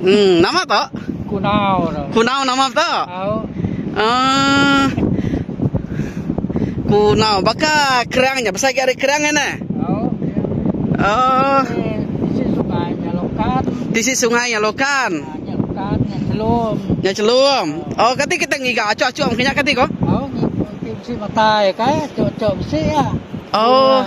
Uhh nama to? Kunau tu. Kunau nama tu? Au. Uh, kunau baka kerang nya pasal agi ari kerang nya ne. Au. Uh, tisi sungai nya lokan. Tisi sungai nya lokan. Ah, nya lokan nya celum. Nya celum. Oh, kati kita ngiga acu-acu mengkanya kati ko? Au, mesti matai kai, acu-acu mesti ya. Oh. Uh,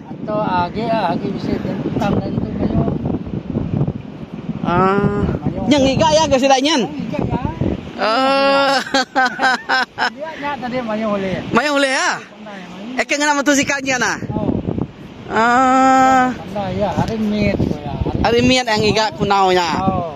Ento agi ah agi bisi tang dah nentu mayuh. Ah. Nya ngiga iya ke sida nyin. Oh. Dia nya tadi mayuh ulih. Mayuh ulih ah. Eh ke ngena mentu sika nyin ah. Ah. Pandai iya hari mit. Hari mit ngiga kunau nya. Oh.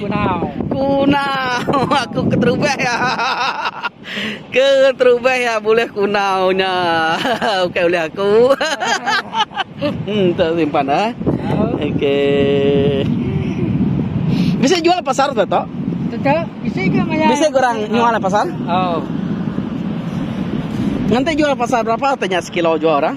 Kunau. Aku keterubah iya. Keterubah iya bulih kunau nya. Ukai ulih aku. Hmm, tu simpan ah. Okey. Bisa jual pasar tu, Tok? Teta, bisa ke maya? Bisa kurang jual pasar? Oh. Nanti jual pasar berapa tanya sekilo jual orang?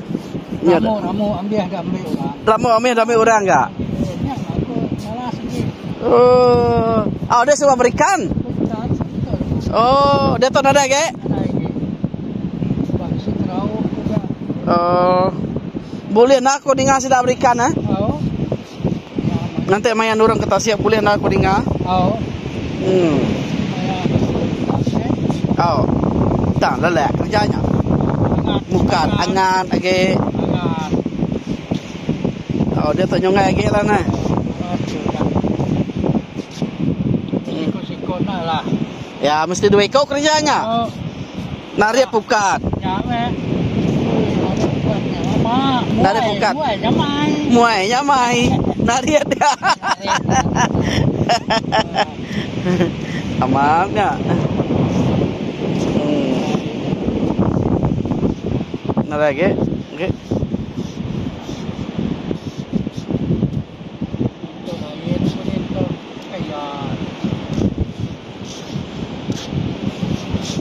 Lamu ambih dah meh orang. Lamu ambih dah meh orang ga. Oh. Au deh suba berikan. Oh, deh tu nadai ge. Oh. Boleh na aku ninga sida berikan eh. Nganti maya nurung ke tasik bulih enda aku ninga. Au. Tang lelak kerja nya. Mukat angat agi. Au dia tu nyunggai agi lah neh. Ya mesti dua iko kerja nya. Narit pukat. Narit pukat. Muai nya mai. Narit. Amat nya. Narit lagi. Okey.